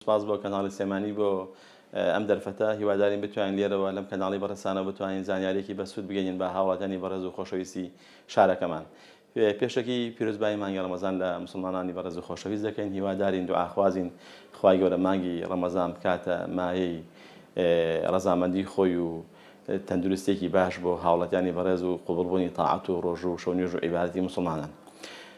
سپاس بۆ کەناڵی سلێمانی بۆ ئەم دەرفەتە، هیوادارین بتوانین لێرەوە لەم کەناڵی بەڕێزتانەوە بتوانین زانیاریەکی بەسوود بگەینن بە هاوڵاتیانی بەڕێز و خۆشەویستی شارەکەمان. پێشەکی پیرۆزبایی مانگی ڕەمەزان لە موسڵمانانی بەڕێز و خۆشەویست دەکەین، هیوادارین دوعاخوازین خوای گەورە مانگی ڕەمەزان بکاتە مایەی ڕەزامەندی خۆی و تەندروستیەکی باش بۆ هاوڵاتیانی بەڕێز و قبوڵبوونی تاعەت و ڕۆژوو و شەونوێژ و عیبادەتی موسڵمانان.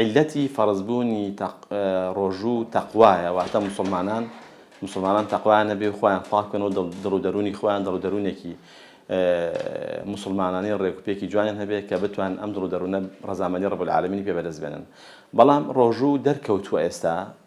عیللەتی فەڕزبوونی ڕۆژوو تەقوایە، واتە موسڵمانان موسڵمانان تەقوایان هەبێ و خۆیان پاک بکەن و دڵ و دەروونی خۆیان دڵ و دەروونێکی موسڵمانانی و ڕێک و پێکی جوانیان هەبێ کە بتوانن ئەم دڵ و دەروونە ڕەزامەندی ڕەب العالمینی پێ بەدەست بێنن بەڵام ڕۆژوو دەرکەوتووە ئێستا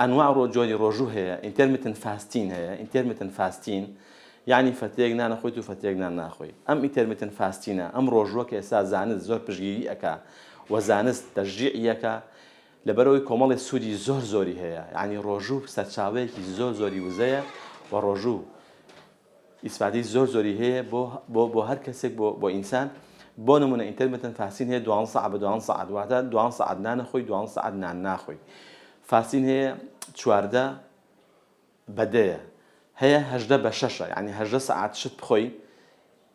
ئەنواع ڕۆ جۆری ڕۆژوو هەیە ئینتێرمیتن فاستین هەیە ئینتێرمیتن فاستین یانی فەتێک نانەخۆیت و فەتێک نان ناخۆی ئەم ئیتێرمیتن فاستینە ئەم ڕۆژووە کە ئێستا زانست زۆر پشگیری ئەکا و زانست تەشجیعیەکە لەبەرەوەی کۆمەڵی سوودی زۆر زۆری هەیە یانی ڕۆژوو سەرچاوەیەکی زۆر زۆری وزەیە و ڕۆژوو ئیسفادەی زۆر زۆری هەیە بۆ بۆ بۆ هەر کەسێک بۆ بۆ ئینسان بۆ نمونە ئینتەرمتن فاسین هەیە دوان سەعات بە دوان سەعات واتە دوان سەعات نانەخۆی دوان سەعات نان ناخۆی فاسین هەیە چواردە بەدەیە هەیە هەژدە بە شەشە یعنی هەژدە سەعات شت بخۆی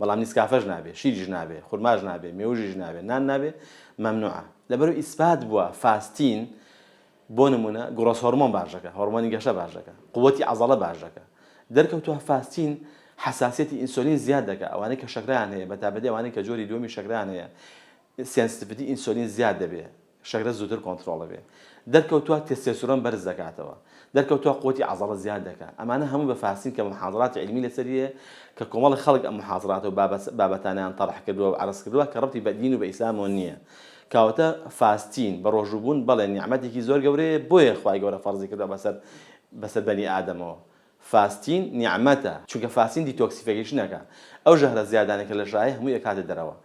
بەڵام نیسکافەش نابێ شیریش نابێ خورماش نابێ مێوژیش نابێ نان نابێ مەمنوعە لەبەرو ئیسپات بووە فاستین بۆ نمونە گوڕەس هۆرمۆن باشەکە هۆرمۆنی گەشە باشەکە قوتی عزڵە باشەکە دەرکەوتوە فاستین حساسەتی ئینسۆلین زیاد دەکە ئەوانەی کە شەکران هەیە بە تابەتی ئەوانەی کە جۆری دووەمی شەکران هەیە سێنسیتیڤیتی ئینسۆلین زیاد دەبێ شەکرە زووتر کۆنتڕۆڵ دەبێت. دەرکەوتووە تێستێستۆرۆن بەرز دەکاتەوە. دەرکەوتووە قوتی عەزەڵە زیاد دەکات. ئەمانە هەمووی بە فارسین کە موحازەراتی عیلمی لەسەری هەیە کە کۆمەڵێک خەڵک ئەم موحازەرات و بابەتانەیان تەڕح کردووە و عەرز کردووە کە ڕەبتی بە دین و بە ئیسلامەوە نییە. کەواتە فاستین، بەڕۆژوو بوون، بەڵێ نیعمەتێکی زۆر گەورەیە بۆیە خوای گەورە فەرزی کردووە بەسەر بەسەر بەنی ئادەمەوە. فاستین نیعمەتە چونکە فاستین دیتۆکسیفەکیشن ئەکا ئەو ژەهرە زیادانە کە لەژایە هەمووی ئەکاتە دەرەوە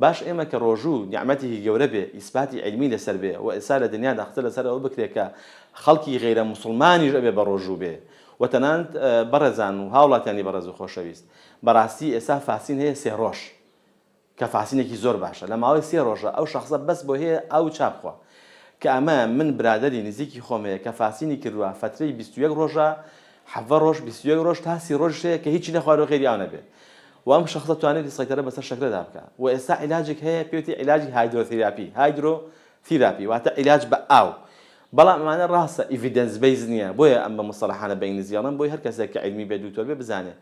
باش ئێمە کە ڕۆژوو نیعمەتێکی گەورە بێ ئیسباتی عیلمی لەسەر بێ وە ئێسا لە دنیادا قسە لەسەر ئەوە بکرێ کە خەڵکی غەیرە موسڵمانیش ئەبێ بەڕۆژوو بێ وە تەنانەت بەڕێزان و هاوڵاتیانی بەڕێز و خۆشەویست بەڕاستی ئێسا فاستین هەیە سێ ڕۆژ کە فاسینێکی زۆر باشە لە ماوەی سێ ڕۆژە ئەو شەخسە بەس بۆ هێ ئاوو چا بخوا کە ئەمە من برادەری نزیکی خۆم هەیە کە فاسینی کردوە فەترەی بیست و یەک ڕۆژە حەڤە ڕۆژ بیست و یەک ڕۆژ تا سی ڕۆژیش هەیە کە هیچی نەخواردوە غەیری ئاو نەبێ و ئەم شەخسە توانێتی سەیتەرە بەسەر شەکرەدا بکا و ئێستا عیلاجێک هەیە پێوتی عیلاجی هایدرۆثیراپی هایدرۆ ثیراپی واتە عیلاج بە ئاو بەڵام ئەمانە ڕاستە ئیڤیدەنس بەیس نیە بۆیە ئەم بە موستەڵەحانە بە ئینگلیزی ئەڵێم بۆی هەر کەسێک کە عیلمی بێ دوکتۆر بێ بزانێ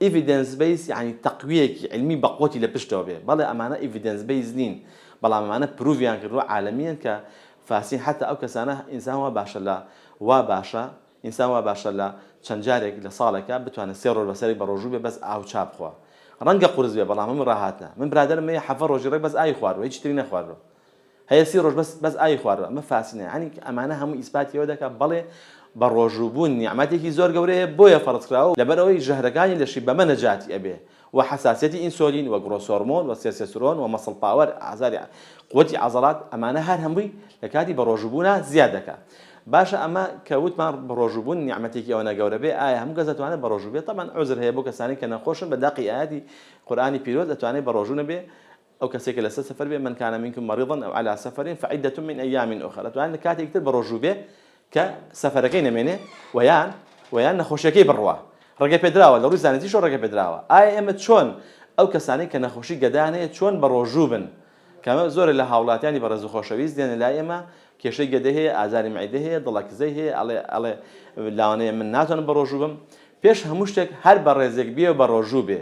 ئیڤیدێنس بەیس یەعنی تەقویەکی عیلمی بە قوتی لە پشتەوە بێ بەڵێ ئەمانە ئیڤیدێنس بەیس نین بەڵام ئەمانە پروڤیان کردوە عالمیەن کە فاسین حەتا ئەو کەسانە ئینسان وا باشە لە وا باشە ئینسان وا باشە لە چەند جارێک لە ساڵێکا بتوانێ سێ ڕۆژ بەسەرێک بە ڕۆژوو بێ بەس ئاو چا بخوا ڕەنگە قورس بێ بەڵام هەموو ڕاهاتنە من برادەرم مەیە حەڤە ڕۆژی ڕێک بەس ئاوی خواردوە هیچی تری نەخواردوە هەیە سی ڕۆژ بەس بەس ئاوی خوارد ئەمە فاسینە یانی ئەمانە هەموو ئیسپاتی ئەوە دەکا بەڵێ بەڕۆژوو بوون نیعمەتێکی زۆر گەورەیە بۆیە فەڕز کراوە لەبەر ئەوەی ژەهرەکانی لەشی بەمە نەجاتی ئەبێ وە حەساسیەتی ئینسۆلین وە گڕۆس هۆرمۆن وە سێسێسرۆن وە مەسڵ پاوەر ئازاری قوتی عەزەڵات ئەمانە هەر هەمووی لە کاتی بەڕۆژوو بوونا زیاد دەکا باشە ئەمە کە وتمان بەڕۆژوو بوون نیعمەتێکی ئەوەنە گەورە بێ ئایا هەموو کەس دەتوانێت بەڕۆژوو بێت تەبەن عوزر هەیە بۆ کەسانی کە نەخۆشن بە دەقی ئایاتی قورئانی پیرۆز ئەتوانێت بەڕۆژوو نەبێ ئەو کەسەی کە لەسەر سەفەر بێ، من کان منکم مەریضا ئەو علی سەفەرین فعدە من ایام اخر، ئەتوانێ لە کاتێکی تر بەڕۆژوو بێ کە سەفەرەکەی نەمێنێ و یان و یان نەخۆشیەکەی بڕوا ڕێگە پێدراوە لەڕووی زانستیشەوە ڕێگە پێدراوە ئایا ئێمە چۆن ئەو کەسانەی کە نەخۆشی گەدەیان هەیە چۆن بەڕۆژوو بن کەمە زۆرە لە هاوڵاتیانی بەڕێز و خۆشەویست دێنە لای ئێمە کێشەی گەدەی هەیە ئازاری معدەی هەیە دڵەکزەی هەیە ئەڵێ ئەڵێ لاوانەیە من ناتوانم بەڕۆژوو بم پێش هەموو شتێک هەر بەڕێزێک بێ و بەڕۆژوو بێ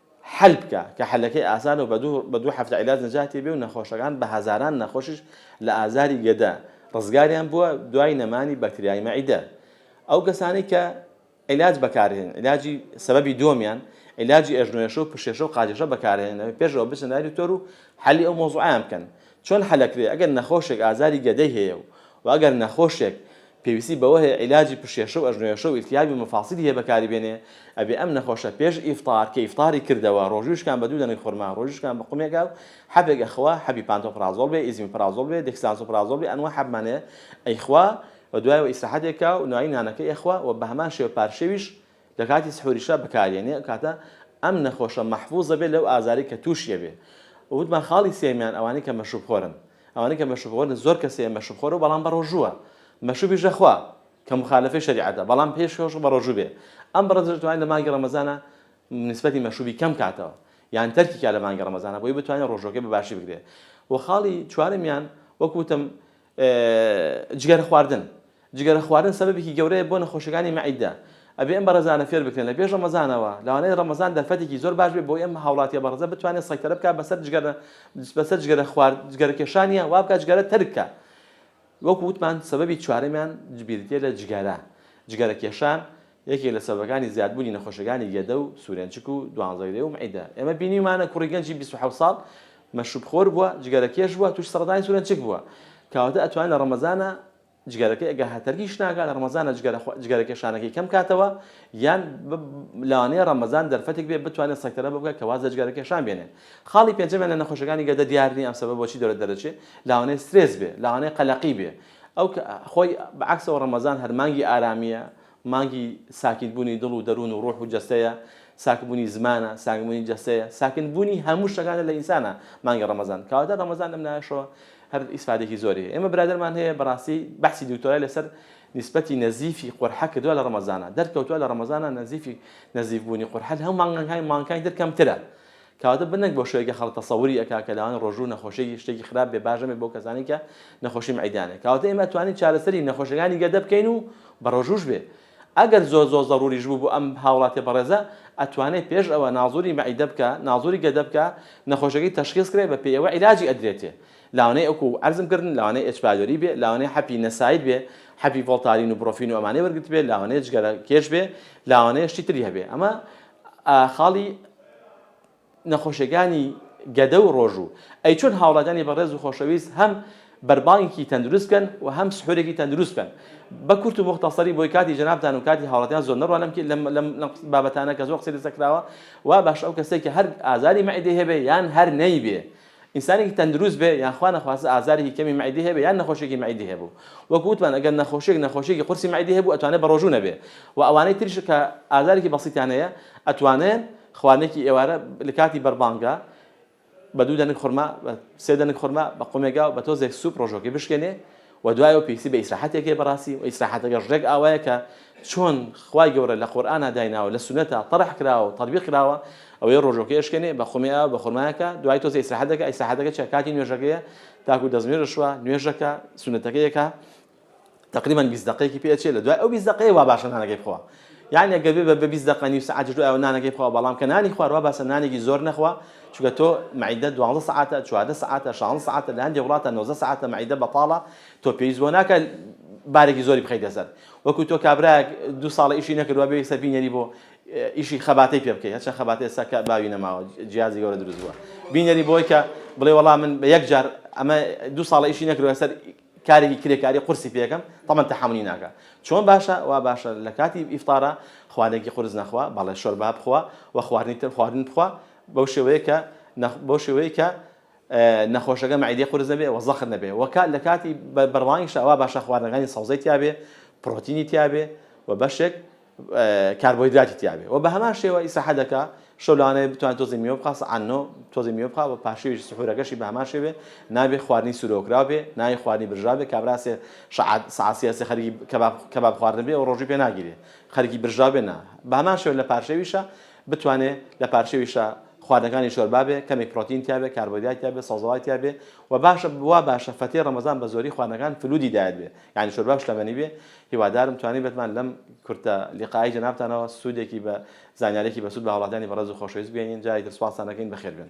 حەل بکا کە حەلەکەی ئاسانە و بە دوو بە دوو هەفتە عیلاج نەجاتی ئەبێ و نەخۆشەکان بە هەزاران نەخۆشیش لە ئازاری گەدە ڕزگاریان بووە دوای نەمانی بەکتریای مەعیدە ئەو کەسانەی کە عیلاج بەکارهێنن عیلاجی سەبەبی دووەمیان عیلاجی ئەژنۆێشە و پشێشە و قاجێشە بەکارهێنن ئەوێ پێش ئەوە بچن لای دکتۆر و حەلی ئەو مەوزوعەیان بکەن چۆن حەلەکرێ ئەگەر نەخۆشێک ئازاری گەدەی هەیە و و ئەگەر نەخۆشێک پێویستی بەوە هەیە عیلاجی پشێشە و ئەژنۆێشە و التیابی و مفاصلی هەیە بەکاری بێنێ ئەبێ ئەم نەخۆشە پێش ئیفطار کە ئیفطاری کردەوە ڕۆژووی شکان بە دوو دەنک خورما ڕۆژووی شکان بە قومێکا و حەبێک ئەخوا حەبی پانتۆپرازۆڵ بێ ئیزیمیپرازۆڵ بێ دێکسلانسۆپرازۆڵ بێ ئەنوا حەبمان هەیە ئەیخوا و دوایەوە ئیسراحەت ئەکا و نوایی نانەکەی ئەخوا و بەهەمان شێوە پارشێویش لە کاتی سحوریشا بەکاری ئەنێ ئەو کاتە ئەم نەخۆشە مەحفوز ئەبێ لەو ئازارەی کە تووشی ئەبێ و وتمان خاڵی سێیەمیان ئەوانەی کە مەشروب خۆرن ئەوانەی کە مەشروبخۆرن زۆر کەسێ مەشروبخۆرە و بەڵام بەڕۆژووە مەشروبیش دەخوا کە موخالەفەی شەریعەتە بەڵام پێش کەوش بەڕۆژوو بێ ئەم بڕە دەتوانێ لە مانگی ڕەمەزانا نیسبەتی مەشروبی کەم کاتەوە یان تەرکی کا لە مانگی ڕەمەزانا بۆی بتوانێ ڕۆژووەکەی بە باشی بگرێ و خاڵی چوارەمیان وەک وتم جگەرە خواردن جگەرە خواردن سەبەبێکی گەورەیە بۆ نەخۆشیەکانی مەعیدە ئەبێ ئەم بەڕێزانە فێر بکرێن لە پێش ڕەمەزانەوە لەوانەیە ڕەمەزان دەرفەتێکی زۆر باش بێ بۆی ئەم هاوڵاتیە بەڕێزە بتوانێ سەیتەرە بکا بەسەر جگەرە بەسەر جگەرە خوارد جگەرە کێشانیا وا بکا جگەرە تەرک کا وەکو وتمان سەبەبی چوارەمیان جبیردیە لە جگەرە جگەرە کێشان یەکێک لە سەبەکانی زیاد بوونی نەخۆشیەکانی گەدە و سورێنچک و دوانزەگرێ و مەعیدە ئێمە بینیومانە کوڕی گەنجی بیست و حەوت ساڵ مەشروب خۆر بووە جگەرە کێش بووە تووش سەڕەتانی سورێنچک بووە کەواتە ئەتوانێ لە ڕەمەزانا جگەرەکەی ئەگەر هەتەرکیش ناکا لە ڕەمەزانا جگەرە کێشانەکەی کەم کاتەوە یان لەوانەیە ڕەمەزان دەرفەتێک بێ بتوانێت سەکتەرە بکە کە واز لە جگەرە کێشان بێنێ خاڵی پێنجەمیان لە نەخۆشەکانی گەدە دیار نیە ئەم سەبە بۆچی دەرە دەرەچێ لاوانەیە سترێس بێ لاوانەیە قەلەقی بێ ئەو خۆی بەعەکسەوە ڕەمەزان هەر مانگی ئارامیە مانگی ساکینبوونی دڵ و دەروون و ڕوح و جەستەیە، ساکبوونی زمانە، ساکبوونی جەستەیە، ساکنبوونی هەموو شتەکانە لە ئینسانە مانگی ڕەمەزان، کەواتە ڕەمەزان لەم لایەشەوە هەر ئیسفادێکی زۆری هەیە. ئێمە برادەرمان هەیە بەڕاستی بەحسی دکتۆرای لەسەر نیسبەتی نەزیفی قورحە کردووە لە ڕەمەزانا، دەرکەوتووە لە ڕەمەزانا نەزیفی نەزیفبوونی قورحە لە هەموو مانگەکانی مانگەکانی تر کەمترە، کەواتە بنەک بۆ شوێکە خەڵک تەسەوری ئەکا کە لاوانی ڕۆژوو نەخۆشیەکی شتێکی خراپ بێ باش نەبێ بۆ کەسانی کە نەخۆشی مەعیدیانە کەواتە ئێمە ئەتوانین چارەسەری نەخۆشەکانی گەدە بکەین و بە ڕۆژووش بێ ئەگەر زۆر زۆر زەڕوریش بوو بۆ ئەم هاوڵاتیە بەڕێزە ئەتوانێ پێش ئەوە نازوری مەعیدە بکا نازوری گەدە بکا نەخۆشەکەی تەشخیس کرێ بە پێی ئەوە عیلاجی ئەدرێتێ لاوانەی ئەوکو عەرزم کردن لاوانەی ئێچ پایلۆری بێ لاوانەی حەپی نەسایل بێ حەپی ڤۆڵتارین و بڕۆفین و ئەمانەی وەرگرتبێ لاوانەی جگەرە کێش بێ لاوانەیە شتی تری هەبێ ئەمە خاڵی نەخۆشیەکانی گەدە و ڕۆژوو ئەی چۆن هاوڵاتیانی بەڕێز و خۆشەویست هەم بەربانگێکی تەندروست بکەن و هەم سحورێکی تەندروست بکەن بە کورت و مختەسەری بۆی کاتی جەنابتان و کاتی هاوڵاتیان زۆر نەڕوا لەم لەم لەم بابەتانە کە زۆر قسەی لەسەر کراوە وا باشە ئەو کەسێک کە هەر ئازاری مەعیدەی هەبێ یان هەر نەیبێ ئینسانێکی تەندروست بێ یان خوا نەخواستە ئازارێکی کەمی مەعیدەی هەبێ یان نەخۆشیەکی مەعیدەی هەبوو وەکو وتمان ئەگەر نەخۆشیەک نەخۆشیەکی قورسی مەعیدەی هەبوو ئەتوانێ بەڕۆژوو نەبێ وە ئەوانەی تریش کە ئازارێکی بەسیتیان هەیە ئەتوانێن خواردنێکی ئێوارە لەکاتی بەربانگا بە دوو دەنک خورما بە سێ دەنک خورما بە قومێگا و بە تۆزێک سوپ ڕۆژوەکەی بشکێنێ وە دوایەوە پێویستی بە ئیسراحەتێک هەیە بەڕاستی وە ئیسراحەتەکەش ڕێک ئاوایە کە چۆن خوای گەورە لە قورئانا دایناوە لە سوننەتا تەڕح کراوە و تەطبیق کراوە ئەوەی ڕۆژوەکەی ئەشکێنێ بە خۆمی ئاو بە خورما ئەکا دوای تۆزێ ئیسراحەت دەکا ئیسراحەتەکە چیە کاتی نوێژەکەیە تاکو دەستنوێژ ئەشوا نوێژ ئەکا سوننەتەکەی ئەکا تەقریبەن بیست دەقەیەکی پێ ئەچێ لە دوای ئەو بیست دەقەیە وا باشە نانەکەی بخەوە یانی ئەگەر بێ بە بیست دەقە نیو سەعاتیش دوایەوە نانەکەی بخەوە بەڵام کە نانی خوارد وا باسە نانێکی زۆر نەخوا چونکە تۆ مەعیدەت دوازدە سەعاتە چواردە سەعاتە شازدە سەعاتە لە هەندێک وڵاتە نۆزدە سەعاتە مەعیدە بەتاڵە تۆ پێویست بۆ ناکات بارێکی زۆری بخەیتە سەر وەکو تۆ کابراەک دوو ساڵە ئیشی نەکردوە بێ یەکسەر بینەری بۆ ئیشی خەباتی پێ بکەیت هەچەند خەباتی ئێستا کە باوی نەماوە جیازی گەورە دروست بووە بینەری بۆی کە بڵێ وەڵام من بە یەک جار ئەمە دوو ساڵە ئیشی نەکردوە سەر کارێکی کرێکاری قورسی پێکەم تەمەن تەحەمولی ناکا چۆن باشە وا باشە لە کاتی ئیفتارا خوارێکی قورس نەخوا بەڵێ شۆربا بخوا و خواردنی تر خواردن بخوا بەو شێوەیە کە بەو شێوەیە کە نەخۆشەکە مەعیدەی قورس نەبێ و زەخت نەبێ و کات لە کاتی بەرڵانگیشە وا باشە خواردنەکانی سەوزەی تیابێ پڕۆتینی تیابێ و بەشێک کاربۆیدراتی تیابێ وە بەهەمان شێوە ئیساحەدەکا شەو لەوانەیە بتوان تۆزی میوە بخا سەعات نۆ تۆزی میوە بخا و پاشویش سحورەکەشی بەهەمان شێوێ نابێ خواردنی سورۆکراو بێ نای خواردنی برژاو بێ کابراسێ شەعات سەعات سێ سێ خەریکی کەباب کەباب خواردن بێ و ڕۆژووی پێ ناگیرێ خەریکی برژاو بێ نا بەهەمان شێوە لە پارشێویشە بتوانێ لە پارشێویشە خواردنەکانی شۆربا بێ کەمێک پڕۆتین تیا بێ کاربۆیدرات تیا بێ سەوزەوات تیا بێ و باشە وا باشە فەتێ ڕەمەزان بە زۆری خواردنەکان فلوودی دایەت بێ یانی شۆربا و شلەمەنی بێ هیوادارم توانی بتمان لەم کورتە لیقائی جەنابتانەوە سودێکی بە زانیارێکی بەسود بە هاوڵاتیانی بەڕێز و خۆشەویست بگەینین جارێکی تر سوپاستان ئەکەین بەخێربێن.